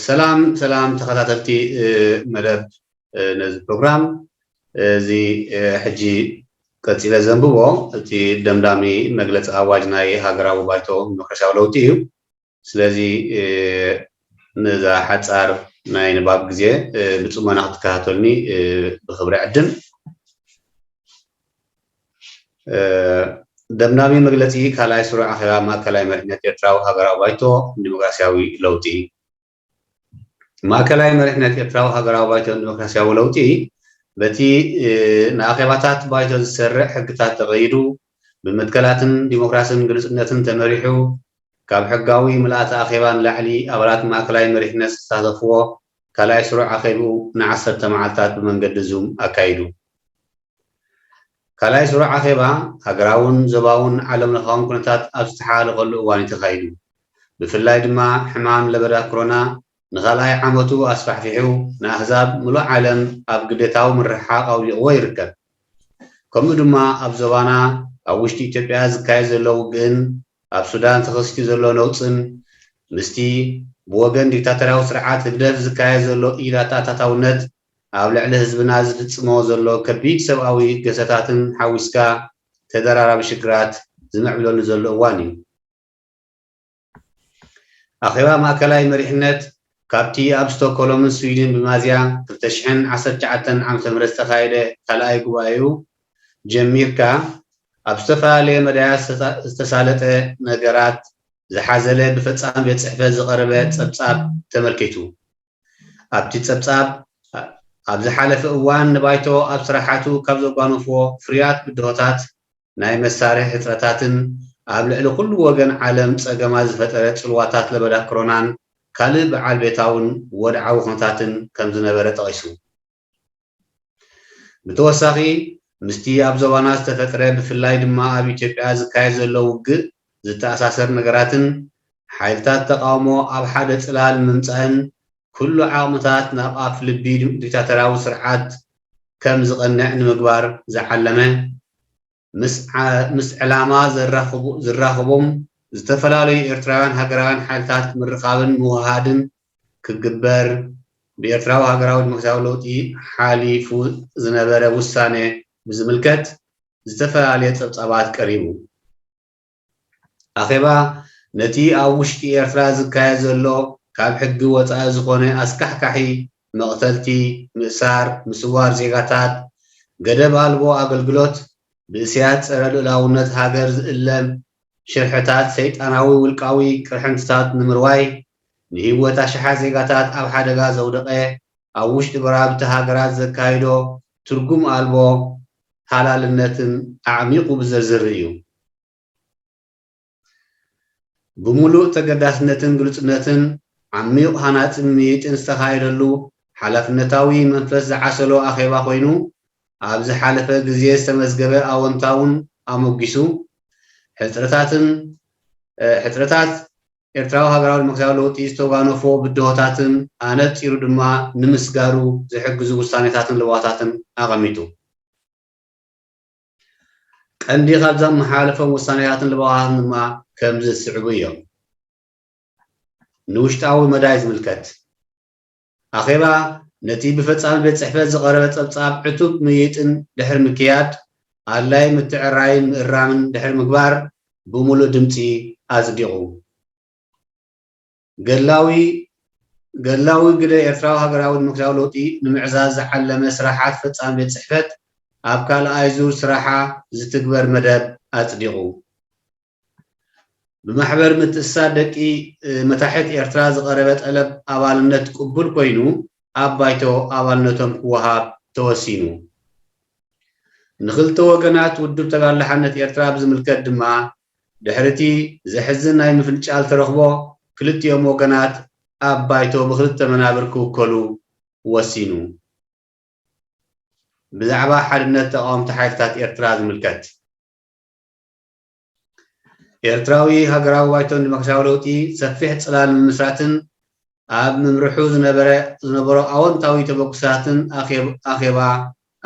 ሰላም ሰላም ተኸታተልቲ መደብ ነዚ ፕሮግራም እዚ ሕጂ ቀጺለ ዘንብቦ እቲ ደምዳሚ መግለጺ ኣዋጅ ናይ ሃገራዊ ባይቶ ዲሞክራሲያዊ ለውጢ እዩ ስለዚ ነዛ ሓጻር ናይ ንባብ ግዜ ብጽሞና ክትከታተሉኒ ብክብሪ ዕድም ደምዳሚ መግለጺ ካልኣይ ስሩዕ ኣኼባ ማእከላይ መሪሕነት ኤርትራዊ ሃገራዊ ባይቶ ንዲሞክራስያዊ ለውጢ። ማእከላይ መሪሕነት ኤርትራዊ ሃገራዊ ባይቶ ንዲሞክራስያዊ ለውጢ፣ በቲ ንኣኼባታት ባይቶ ዝሰርዕ ሕግታት ተቐይዱ፣ ብመትከላትን ዲሞክራስን ግሉጽነትን ተመሪሑ፣ ካብ ሕጋዊ ምልኣተ ኣኼባ ንላዕሊ ኣባላት ማእከላይ መሪሕነት ዝተሳተፍዎ ካልኣይ ስሩዕ ኣኼብኡ ንዓሰርተ መዓልታት ብመንገዲ ዙም ኣካይዱ። ካልኣይ ዙር ኣኼባ ሃገራውን ዞባውን ዓለምለኻውን ኩነታት ኣብ ዝተሓላለኸሉ እዋን እዩ ተኻይዱ። ብፍላይ ድማ ሕማም ለበዳ ክሮና ንኻልኣይ ዓመቱ ኣስፋሕፊሑ ንኣህዛብ ምሉእ ዓለም ኣብ ግዴታዊ ምርሕሓቕ ኣውዲቕዎ ይርከብ። ከምኡ ድማ ኣብ ዞባና ኣብ ውሽጢ ኢትዮጵያ ዝካየድ ዘሎ ውግእን ኣብ ሱዳን ተኸሲቱ ዘሎ ነውጽን ምስቲ ብወገን ዲክታቶርያዊ ስርዓት ህግደፍ ዝካየድ ዘሎ ኢኣተኣታታውነት ኣብ ልዕሊ ህዝብና ዝፍጽሞ ዘሎ ከቢድ ሰብኣዊ ገሰታትን ሓዊስካ ተደራራቢ ሽግራት ዝምዕብለሉ ዘሎ እዋን እዩ። ኣኼባ ማእከላይ መሪሕነት ካብቲ ኣብ ስቶኮሎምን ስዊድን ብማዝያ ክልተ ሽሕን ዓሰርተ ትሽዓተን ዓመተ ምህረት ዝተኻየደ ካልኣይ ጉባኤኡ ጀሚርካ ኣብ ዝተፈላለየ መዳያት ዝተሳለጠ ነገራት ዝሓዘለ ብፈጻሚ ቤት ጽሕፈት ዝቐረበ ጸብጻብ ተመልኪቱ። ኣብቲ ጸብጻብ፣ ኣብ ዝሓለፈ እዋን ንባይቶ ኣብ ስራሓቱ ካብ ዘጓነፎ ፍርያት ብድሆታት፣ ናይ መሳርሒ ሕጽረታትን ኣብ ልዕሊ ኩሉ ወገን ዓለም ጸገማት ዝፈጠረ ጽልዋታት ለበዳ ክሮናን ካልእ ብዓል ቤታውን ወድዓዊ ኩነታትን ከምዝነበረ ጠቒሱ። ብተወሳኺ ምስቲ ኣብ ዞባና ዝተፈጥረ ብፍላይ ድማ ኣብ ኢትዮጵያ ዝካየድ ዘሎ ውግእ ዝተኣሳሰር ነገራትን ሓይልታት ተቓውሞ ኣብ ሓደ ጽላል ምምጻእን ኩሉ ዓቕምታት ናብ ኣፍ ልቢ ዲክታተርያዊ ስርዓት ከም ዝቐንዕ ንምግባር ዝዓለመ ምስ ዕላማ ዝራኽቦም ዝተፈላለዩ ኤርትራውያን ሃገራውያን ሓይልታት ምርኻብን ምውህሃድን ክግበር ብኤርትራዊ ሃገራዊ ዲሞክራሲያዊ ለውጢ ሓሊፉ ዝነበረ ውሳነ ብዝምልከት ዝተፈላለየ ጸብጻባት ቀሪቡ። ኣኼባ ነቲ ኣብ ውሽጢ ኤርትራ ዝካየድ ዘሎ ካብ ሕጊ ወጻኢ ዝኾነ ኣስካሕካሒ መቕተልቲ፣ ምእሳር፣ ምስዋር ዜጋታት፣ ገደብ ኣልቦ ኣገልግሎት፣ ብእስያስ ጸረ ልኡላውነት ሃገር ዝእለም ሽርሕታት ሰይጣናዊ ውልቃዊ ቅርሕንትታት ንምርዋይ ንህይወት ኣሽሓት ዜጋታት ኣብ ሓደጋ ዘውደቐ ኣብ ውሽጢ ጎረባብቲ ሃገራት ዘካይዶ ትርጉም ኣልቦ ሃላልነትን ኣዕሚቑ ብዘዝር እዩ። ብምሉእ ተገዳስነትን ግሉጽነትን፣ ዓሚዩቕ ሃናጽን ምይይጥን ዝተኻየደሉ ሓላፍነታዊ መንፈስ ዝዓሰሎ ኣኼባ ኮይኑ፣ ኣብ ዝሓለፈ ግዜ ዝተመዝገበ ኣወንታውን ኣሞጊሱ፣ ሕጽረታትን ሕጽረታት ኤርትራዊ ሃገራዊ ዲሞክራሲያዊ ለውጢ ዝተጓነፎ ብድሆታትን ኣነጺሩ ድማ ንምስጋሩ ዝሕግዙ ውሳኔታትን ለበዋታትን ኣቐሚጡ። ቀንዲ ካብ ዘመሓላለፎም ውሳኔታትን ለበዋታትን ድማ ከምዚ ዝስዕቡ እዮም። ንውሽጣዊ መዳይ ዝምልከት፣ ኣኼባ ነቲ ብፈጻሚ ቤት ጽሕፈት ዝቐረበ ጸብጻብ ዕቱብ ምይይጥን ድሕሪ ምክያድ፣ ኣድላዪ ምትዕርራይን ምእራምን ድሕሪ ምግባር ብምሉእ ድምጺ ኣጽዲቑ። ገድላዊ ገድላዊ ግደ ኤርትራዊ ሃገራዊ ዲሞክራስያዊ ለውጢ ንምዕዛዝ ዝዓለመ ስራሓት ፈጻሚ ቤት ጽሕፈት ኣብ ካልኣይ ዙር ስራሓ ዝትግበር መደብ ኣጽዲቑ። ብማሕበር ምትእስሳር ደቂ መታሕት ኤርትራ ዝቐረበ ጠለብ ኣባልነት ቅቡል ኮይኑ ኣብ ባይቶ ኣባልነቶም ክወሃብ ተወሲኑ። ንክልተ ወገናት ውድብ ተጋድሎ ሓርነት ኤርትራ ብዝምልከት ድማ ድሕሪ'ቲ ዘሕዝን ናይ ምፍንጫል ተረኽቦ ክልቲኦም ወገናት ኣብ ባይቶ ብክልተ መናብር ክውከሉ ወሲኑ። ብዛዕባ ሓድነት ተቓወምቲ ሓይልታት ኤርትራ ዝምልከት። ኤርትራዊ ሃገራዊ ባይቶ ንደሞክራስያዊ ለውጢ ሰፊሕ ጽላል ምምስራትን ኣብ ምምርሑ ዝነበረ ዝነበሮ ኣወንታዊ ተበግሶታትን ኣኼባ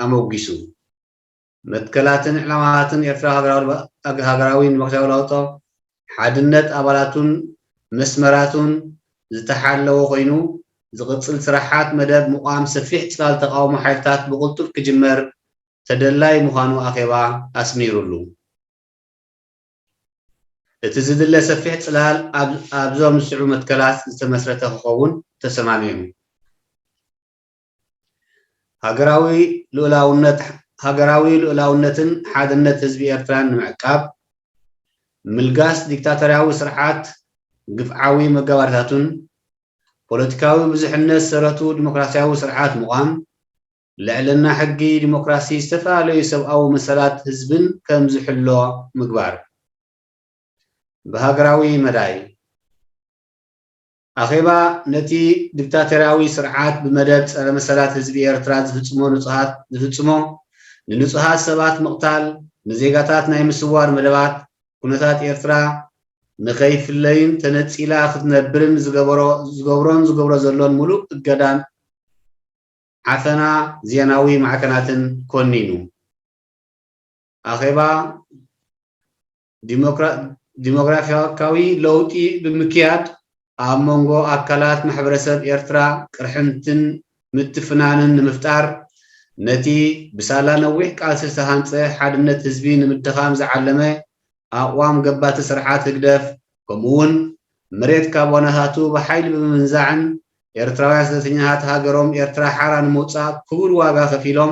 ኣሞጊሱ። መትከላትን ዕላማታትን ኤርትራዊ ሃገራዊ ደሞክራስያዊ ለውጦ፣ ሓድነት ኣባላቱን መስመራቱን ዝተሓለወ ኮይኑ፣ ዝቕጽል ስራሓት መደብ ምቛም ሰፊሕ ጽላል ተቓውሞ ሓይልታት ብቕልጡፍ ክጅመር ተደላዪ ምዃኑ ኣኼባ ኣስሚሩሉ። እቲ ዝድለ ሰፊሕ ጽላል ኣብዞም ዝስዕቡ መትከላት ዝተመስረተ ክኸውን ተሰማሚዑ። ሃገራዊ ልኡላውነትን ሓድነት ህዝቢ ኤርትራን ንምዕቃብ፣ ምልጋስ ዲክታቶርያዊ ስርዓት ግፍዓዊ መጋባርታቱን፣ ፖለቲካዊ ብዙሕነት ሰረቱ ዲሞክራስያዊ ስርዓት ምቛም፣ ልዕልና ሕጊ፣ ዲሞክራሲ፣ ዝተፈላለዩ ሰብኣዊ መሰላት ህዝብን ከም ዝሕሎ ምግባር። ብሃገራዊ መዳይ፣ ኣኼባ ነቲ ዲክታቶርያዊ ስርዓት ብመደብ ጸረ መሰላት ህዝቢ ኤርትራ ዝፍጽሞ ንጹሃት ዝፍጽሞ ንንጹሃት ሰባት ምቕታል፣ ንዜጋታት ናይ ምስዋር መደባት፣ ኩነታት ኤርትራ ንኸይፍለይን ተነጺላ ክትነብርን ዝገበሮ ዝገብሮን ዝገብሮ ዘሎን ምሉእ እገዳን ዓፈና ዜናዊ ማዕከናትን ኮኒኑ። ኣኼባ ዲሞግራፊካዊ ለውጢ ብምክያድ ኣብ መንጎ ኣካላት ማሕበረሰብ ኤርትራ ቅርሕንትን ምትፍናንን ንምፍጣር ነቲ ብሳላ ነዊሕ ቃልሲ ዝተሃንጸ ሓድነት ህዝቢ ንምድኻም ዝዓለመ ኣቕዋም ገባቲ ስርዓት ህግደፍ ከምኡ'ውን መሬት ካብ ዋናታቱ ብሓይሊ ብምምንዛዕን ኤርትራውያን ስደተኛታት ሃገሮም ኤርትራ ሓራ ንምውጻእ ክቡር ዋጋ ከፊሎም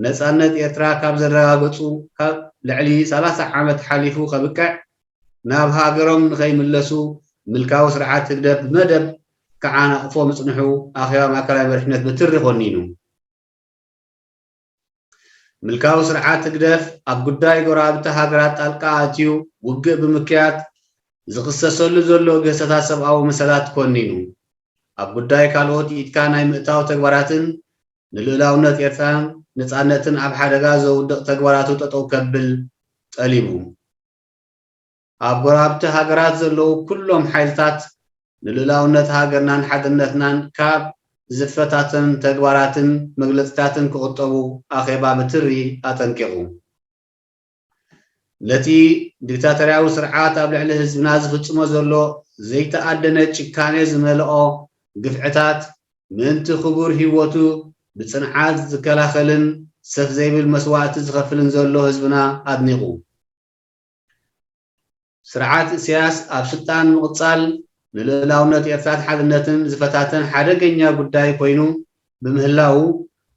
ነጻነት ኤርትራ ካብ ዘረጋገጹ ካብ ልዕሊ ሰላሳ ዓመት ሓሊፉ ከብቅዕ ናብ ሃገሮም ንኸይምለሱ ምልካዊ ስርዓት ህግደፍ ብመደብ ክዓናቕፎ ምጽንሑ ኣኼባ ማእከላይ መሪሕነት ብትሪ ኮኒኑ። ምልካዊ ስርዓት ህግደፍ ኣብ ጉዳይ ጎረባብቲ ሃገራት ጣልቃ ኣትዩ ውግእ ብምክያድ ዝኽሰሰሉ ዘሎ ግህሰታት ሰብኣዊ መሰላት ኮኒኑ፣ ኣብ ጉዳይ ካልኦት ኢድካ ናይ ምእታው ተግባራትን ንልኡላውነት ኤርትራን ነጻነትን ኣብ ሓደጋ ዘውድቕ ተግባራቱ ጠጠው ከብል ጠሊቡ። ኣብ ጎረባብቲ ሃገራት ዘለዉ ኩሎም ሓይልታት ንልኡላውነት ሃገርናን ሓድነትናን ካብ ዝፈታተን ተግባራትን መግለጺታትን ክቑጠቡ ኣኼባ ብትሪ ኣጠንቂቑ። ነቲ ዲክታቶርያዊ ስርዓት ኣብ ልዕሊ ህዝብና ዝፍጽሞ ዘሎ ዘይተኣደነ ጭካኔ ዝመልኦ ግፍዕታት ምእንቲ ክቡር ሂወቱ ብጽንዓት ዝከላኸልን ሰፍ ዘይብል መስዋእቲ ዝኸፍልን ዘሎ ህዝብና ኣድኒቑ። ስርዓት ኢሳያስ ኣብ ስልጣን ምቕጻል ንልኡላውነት ኤርትራን ሓድነትን ዝፈታተን ሓደገኛ ጉዳይ ኮይኑ ብምህላዉ፣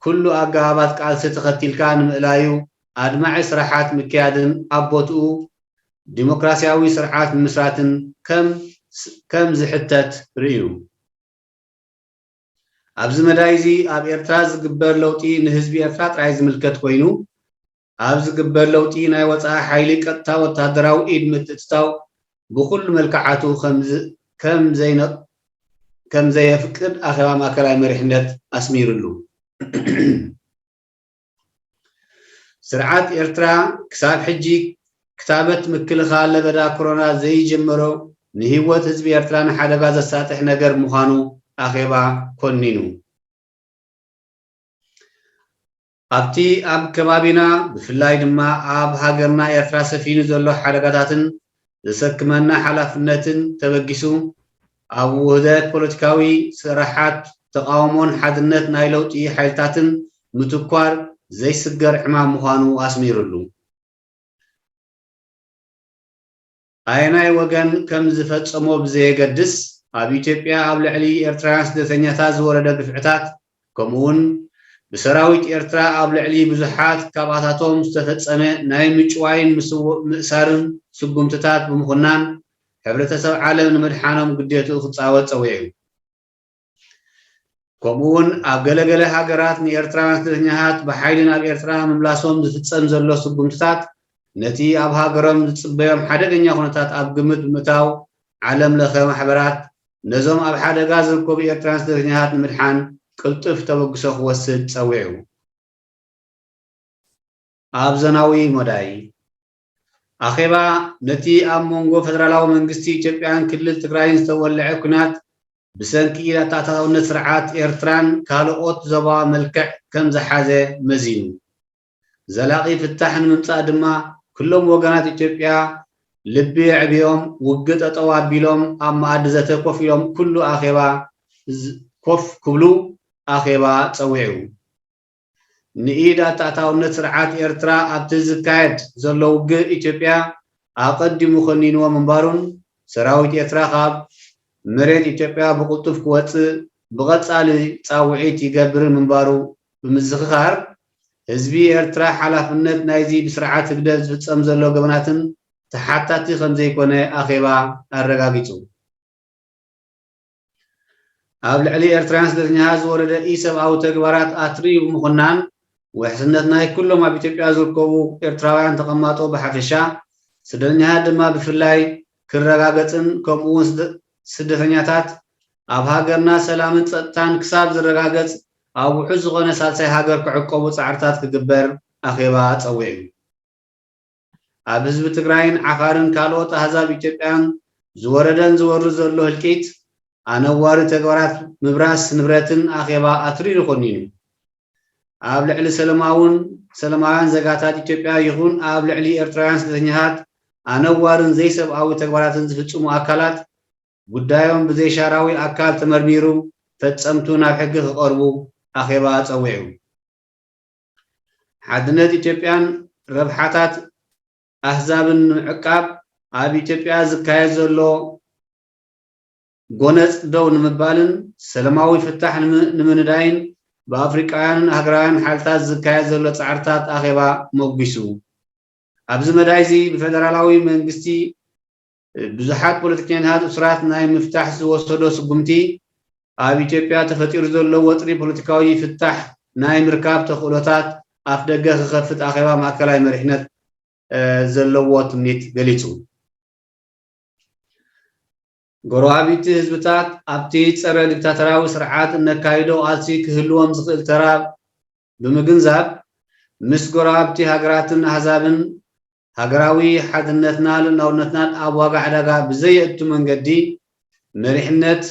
ኩሉ ኣገባባት ቃልሲ ተኸቲልካ ንምእላዩ ኣድማዒ ስራሓት ምክያድን ኣብ ቦትኡ ዲሞክራሲያዊ ስርዓት ምምስራትን ከም ዝሕተት ርእዩ። ኣብዚ መዳይዚ ኣብ ኤርትራ ዝግበር ለውጢ ንህዝቢ ኤርትራ ጥራይ ዝምልከት ኮይኑ፣ ኣብ ዝግበር ለውጢ ናይ ወጻኢ ሓይሊ ቀጥታ ወተሃደራዊ ኢድ ምትእትታው ብኹሉ መልክዓቱ ከም ዘየፍቅድ ኣኼባ ማእከላይ መሪሕነት ኣስሚርሉ። ስርዓት ኤርትራ ክሳብ ሕጂ ክታበት ምክልኻል ለበዳ ኮሮና ዘይጀመሮ ንህይወት ህዝቢ ኤርትራ ንሓደጋ ዘሳጥሕ ነገር ምዃኑ ኣኼባ ኮኒኑ። ኣብቲ ኣብ ከባቢና ብፍላይ ድማ ኣብ ሃገርና ኤርትራ ሰፊኑ ዘሎ ሓደጋታትን ዘሰክመና ሓላፍነትን ተበጊሱ፣ ኣብ ውህደት ፖለቲካዊ ስርሓት ተቓውሞን ሓድነት ናይ ለውጢ ሓይልታትን ምትኳር ዘይስገር ዕማም ምዃኑ ኣስሚርሉ። ኣየናይ ወገን ከም ዝፈጸሞ ብዘየገድስ፣ ኣብ ኢትዮጵያ ኣብ ልዕሊ ኤርትራውያን ስደተኛታት ዝወረደ ግፍዕታት፣ ከምኡ'ውን ብሰራዊት ኤርትራ ኣብ ልዕሊ ብዙሓት ካብኣታቶም ዝተፈጸመ ናይ ምጭዋይን ምስውእ ምእሳርን ስጉምትታት ብምኹናን፣ ሕብረተሰብ ዓለም ንምድሓኖም ግዴትኡ ክጻወት ጸዊዑ። ከምኡ'ውን ኣብ ገለ ገለ ሃገራት ንኤርትራውያን ስደተኛታት ብሓይሊ ናብ ኤርትራ ምምላሶም ዝፍጸም ዘሎ ስጉምትታት ነቲ ኣብ ሃገሮም ዝጽበዮም ሓደገኛ ኩነታት ኣብ ግምት ብምእታው ዓለም ለኸ ማሕበራት ነዞም ኣብ ሓደጋ ዝርከቡ ኤርትራውያን ስደተኛታት ንምድሓን ቅልጡፍ ተበግሶ ክወስድ ጸዊዑ። ኣብ ዘናዊ መዳይ፣ ኣኼባ ነቲ ኣብ መንጎ ፈደራላዊ መንግስቲ ኢትዮጵያን ክልል ትግራይን ዝተወልዐ ኲናት ብሰንኪ ኢድ-ኣተኣታታውነት ስርዓት ኤርትራን ካልኦት ዞባዊ መልክዕ ከም ዝሓዘ መዚኑ። ዘላቒ ፍታሕ ንምምጻእ ድማ ኩሎም ወገናት ኢትዮጵያ ልቢ ኣዕቢዮም ውግእ ጠጠው ኣቢሎም ኣብ መኣዲ ዘተ ኮፍ ኢሎም ኩሉ ኣኼባ ኮፍ ክብሉ ኣኼባ ጸዊዑ። ንኢድ ኣታኣታውነት ስርዓት ኤርትራ ኣብቲ ዝካየድ ዘሎ ውግእ ኢትዮጵያ ኣቐዲሙ ከኒንዎ ምንባሩን ሰራዊት ኤርትራ ካብ መሬት ኢትዮጵያ ብቕልጡፍ ክወጽእ ብቐጻሊ ጻውዒት ይገብርን ምንባሩ ብምዝኽኻር፣ ህዝቢ ኤርትራ ሓላፍነት ናይዚ ብስርዓት ህግደፍ ዝፍጸም ዘሎ ገበናትን ተሓታቲ ከምዘይኮነ ኣኼባ ኣረጋጊጹ። ኣብ ልዕሊ ኤርትራውያን ስደተኛታት ዝወረደ ኢሰብኣዊ ተግባራት ኣትሪዩ ብምኹናን፣ ውሕስነት ናይ ኩሎም ኣብ ኢትዮጵያ ዝርከቡ ኤርትራውያን ተቐማጦ ብሓፈሻ፣ ስደተኛታት ድማ ብፍላይ ክረጋገጽን ከምኡ'ውን ስደተኛታት ኣብ ሃገርና ሰላምን ጸጥታን ክሳብ ዝረጋገጽ ኣብ ውሑስ ዝኾነ ሳልሳይ ሃገር ክዕቆቡ ጻዕርታት ክግበር ኣኼባ ጸዊዑ። ኣብ ህዝቢ ትግራይን ዓፋርን ካልኦት ኣህዛብ ኢትዮጵያን ዝወረደን ዝወርድ ዘሎ ህልቂት፣ ኣነዋሪ ተግባራት ምብራስ ንብረትን ኣኼባ ኣትሪሩ ኮኒኑ። ኣብ ልዕሊ ሰለማውን ሰለማውያን ዘጋታት ኢትዮጵያ ይኹን ኣብ ልዕሊ ኤርትራውያን ስደተኛታት ኣነዋርን ዘይሰብኣዊ ተግባራትን ዝፍጽሙ ኣካላት ጉዳዮም ብዘይሻራዊ ኣካል ተመርሚሩ ፈጸምቱ ናብ ሕጊ ክቐርቡ ኣኼባ ጸዊዑ። ሓድነት ኢትዮጵያን ረብሓታት ኣህዛብን ንምዕቃብ ኣብ ኢትዮጵያ ዝካየድ ዘሎ ጎነጽ ደው ንምባልን ሰለማዊ ፍታሕ ንምንዳይን ብኣፍሪቃውያንን ኣህግራውያን ሓልታት ዝካየድ ዘሎ ጻዕርታት ኣኼባ ሞጒሱ። ኣብዚ መዳይዚ ብፈደራላዊ መንግስቲ ብዙሓት ፖለቲከኛታት እሱራት ናይ ምፍታሕ ዝወሰዶ ስጉምቲ ኣብ ኢትዮጵያ ተፈጢሩ ዘሎ ወጥሪ ፖለቲካዊ ፍታሕ ናይ ምርካብ ተኽእሎታት ኣፍደገ ክኸፍት ኣኼባ ማእከላይ መሪሕነት ዘለዎ ትምኒት ገሊጹ። ጎረባብቲ ህዝብታት ኣብቲ ጸረ ዲክታተራዊ ስርዓት እነካይዶ ቃልሲ ክህልዎም ዝኽእል ተራ ብምግንዛብ ምስ ጎረባብቲ ሃገራትን ኣህዛብን ሃገራዊ ሓድነትና ልኡላውነትናን ኣብ ዋጋ ዕዳጋ ብዘየእቱ መንገዲ መሪሕነት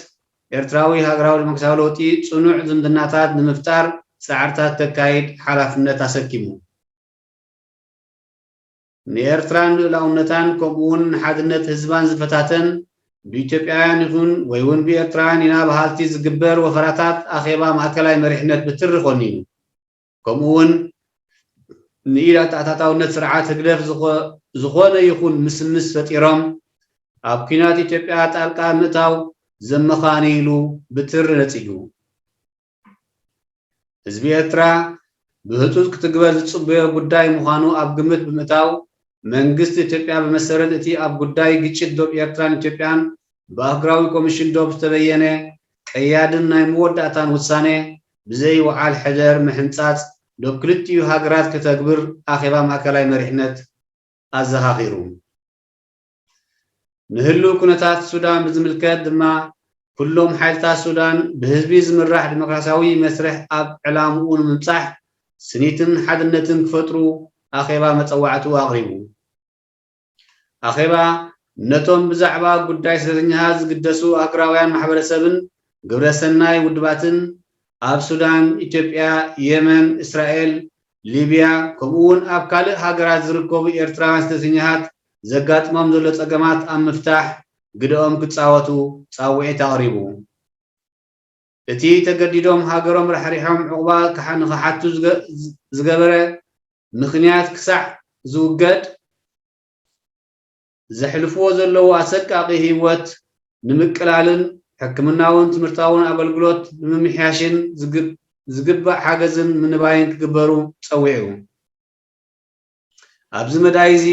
ኤርትራዊ ሃገራዊ ደሞክራሲያዊ ለውጢ ጽኑዕ ዝምድናታት ንምፍጣር ጻዕርታት ከካይድ ሓላፍነት ኣሰኪሙ። ንኤርትራን ልኡላውነታን ከምኡ'ውን ንሓድነት ህዝባን ዝፈታተን ብኢትዮጵያውያን ይኹን ወይ'ውን ብኤርትራውያን ኢና በሃልቲ ዝግበር ወፈራታት ኣኼባ ማእከላይ መሪሕነት ብትሪ ኮኒኑ። ከምኡ'ውን ንኢድ ኣተኣታታውነት ስርዓት ህግደፍ ዝኾነ ይኹን ምስምስ ፈጢሮም ኣብ ኲናት ኢትዮጵያ ጣልቃ ምእታው ዘመኻኒ ኢሉ ብትሪ ነጺጉ። ህዝቢ ኤርትራ ብህጹጽ ክትግበር ዝጽበዮ ጉዳይ ምዃኑ ኣብ ግምት ብምእታው፣ መንግስቲ ኢትዮጵያ ብመሰረት እቲ ኣብ ጉዳይ ግጭት ዶብ ኤርትራን ኢትዮጵያን ብኣህጉራዊ ኮሚሽን ዶብ ዝተበየነ ቀያድን ናይ መወዳእታን ውሳነ ብዘይ ውዓል ሕደር ምሕንጻጽ ዶብ ክልቲኡ ሃገራት ከተግብር ኣኼባ ማእከላይ መሪሕነት ኣዘኻኺሩ። ንህሉው ኩነታት ሱዳን ብዝምልከት ድማ ኩሎም ሓይልታት ሱዳን ብህዝቢ ዝምራሕ ዲሞክራሲያዊ መስርሕ ኣብ ዕላምኡ ንምብጻሕ ስኒትን ሓድነትን ክፈጥሩ ኣኼባ መጸዋዕትኡ ኣቕሪቡ። ኣኼባ ነቶም ብዛዕባ ጉዳይ ስደተኛታት ዝግደሱ ኣህጉራውያን ማሕበረሰብን ግብረ ሰናይ ውድባትን ኣብ ሱዳን፣ ኢትዮጵያ፣ የመን፣ እስራኤል፣ ሊብያ ከምኡ'ውን ኣብ ካልእ ሃገራት ዝርከቡ ኤርትራውያን ስደተኛታት ዘጋጥሞም ዘሎ ጸገማት ኣብ ምፍታሕ ግደኦም ክጻወቱ ጻውዒት ኣቕሪቡ። እቲ ተገዲዶም ሃገሮም ራሕሪሖም ዑቕባ ንክሓቱ ዝገበረ ምኽንያት ክሳዕ ዝውገድ ዘሕልፍዎ ዘለዉ ኣሰቃቒ ህይወት ንምቅላልን ሕክምናውን ትምህርታውን ኣገልግሎት ንምምሕያሽን ዝግባእ ሓገዝን ምንባይን ክግበሩ ጸዊዑ። ኣብዚ መዳይ እዚ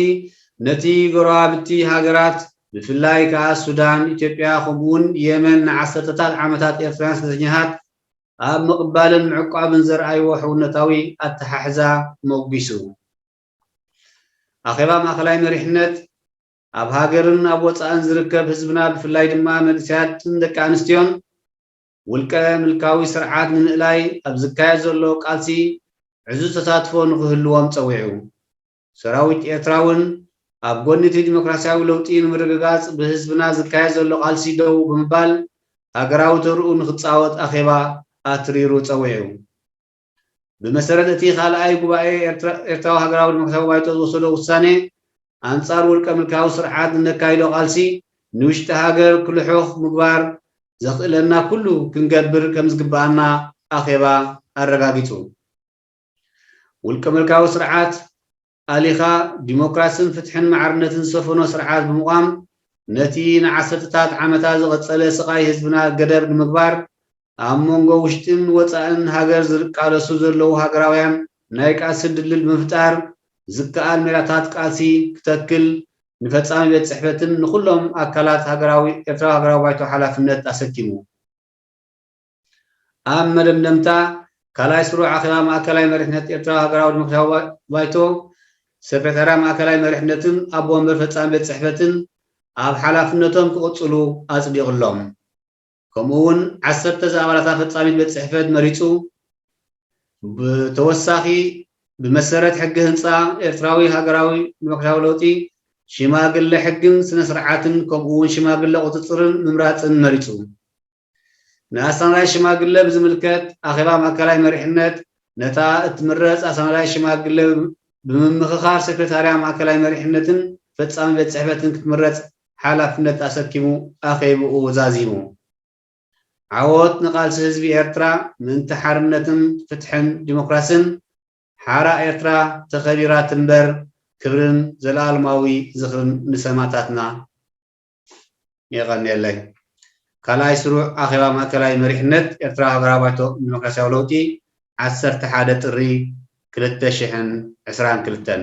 ነቲ ጎረባብቲ ሃገራት ብፍላይ ከኣ ሱዳን፣ ኢትዮጵያ ከምኡ'ውን የመን ንዓሰርተታት ዓመታት ኤርትራውያን ስደተኛታት ኣብ ምቕባልን ምዕቋብን ዘርኣይዎ ሕውነታዊ ኣተሓሕዛ ሞጒሱ። ኣኼባ ማእከላይ መሪሕነት ኣብ ሃገርን ኣብ ወጻእን ዝርከብ ህዝብና ብፍላይ ድማ መንእሰያትን ደቂ ኣንስትዮን ውልቀ ምልካዊ ስርዓት ንምእላይ ኣብ ዝካየድ ዘሎ ቃልሲ ዕዙዝ ተሳትፎ ንኽህልዎም ፀዊዑ። ሰራዊት ኤርትራ እውን ኣብ ጎኒ እቲ ዲሞክራሲያዊ ለውጢ ንምርግጋፅ ብህዝብና ዝካየድ ዘሎ ቃልሲ ደው ብምባል ሃገራዊ ተርኡ ንኽፃወት ኣኼባ ኣትሪሩ ፀዊዑ። ብመሰረት እቲ ካልኣይ ጉባኤ ኤርትራዊ ሃገራዊ ዲሞክራስያዊ ባይቶ ዝወሰዶ ውሳኔ፣ ኣንጻር ውልቀ-ምልካዊ ስርዓት ንነካይዶ ቃልሲ ንውሽጢ ሃገር ክልሑኽ ምግባር ዘኽእለና ኩሉ ክንገብር ከምዝግበኣና ኣኼባ ኣረጋጊጹ። ውልቀ-ምልካዊ ስርዓት ኣሊኻ ዲሞክራስን ፍትሕን ማዕርነትን ዝሰፈኖ ስርዓት ብምቛም ነቲ ንዓሰርተታት ዓመታት ዝቐጸለ ስቓይ ህዝብና ገደብ ንምግባር ኣብ መንጎ ውሽጥን ወጻእን ሃገር ዝርቃለሱ ዘለዉ ሃገራውያን ናይ ቃልሲ ድልድል ብምፍጣር ዝከኣል ሜላታት ቃልሲ ክተክል ንፈጻሚ ቤት ጽሕፈትን ንኹሎም ኣካላት ኤርትራዊ ሃገራዊ ባይቶ ሓላፍነት ኣሰኪሙ። ኣብ መደምደምታ፣ ካልኣይ ስሩዕ ኣኼባ ማእከላይ መሪሕነት ኤርትራዊ ሃገራዊ ዲሞክራስያዊ ባይቶ፣ ሰክረታርያ ማእከላይ መሪሕነትን ኣቦ ወንበር ፈጻሚ ቤት ጽሕፈትን ኣብ ሓላፍነቶም ክቕጽሉ ኣጽዲቕሎም። ከምኡ'ውን ዓሰርተ ዝኣባላታ ፈጻሚት ቤት ጽሕፈት መሪጹ። ብተወሳኺ ብመሰረት ሕጊ ህንጻ ኤርትራዊ ሃገራዊ ዲሞክራስያዊ ለውጢ፣ ሽማግለ ሕግን ስነ-ስርዓትን ከምኡ'ውን ሽማግለ ቁጽጽርን ምምራጽን መሪጹ። ንኣሳናዳይ ሽማግለ ብዝምልከት ኣኼባ ማእከላይ መሪሕነት ነታ እትምረጽ ኣሳናዳይ ሽማግለ ብምምኽኻር ሴክሬታርያ ማእከላይ መሪሕነትን ፈጻሚ ቤት ጽሕፈትን ክትምረጽ ሓላፍነት ኣሰኪሙ ኣኼብኡ ዛዚሙ። ዓወት ንቓልሲ ህዝቢ ኤርትራ ምእንቲ ሓርነትን ፍትሕን ዲሞክራስን! ሓራ ኤርትራ ተኸቢራ ትንበር! ክብርን ዘልኣልማዊ ዝኽርን ንሰማእታትና! የቐንየለይ። ካልኣይ ስሩዕ ኣኼባ ማእከላይ መሪሕነት ኤርትራ ሃገራዊ ባይቶ ንደሞክራስያዊ ለውጢ ዓሰርተ ሓደ ጥሪ ክልተ ሽሕን ዕስራን ክልተን።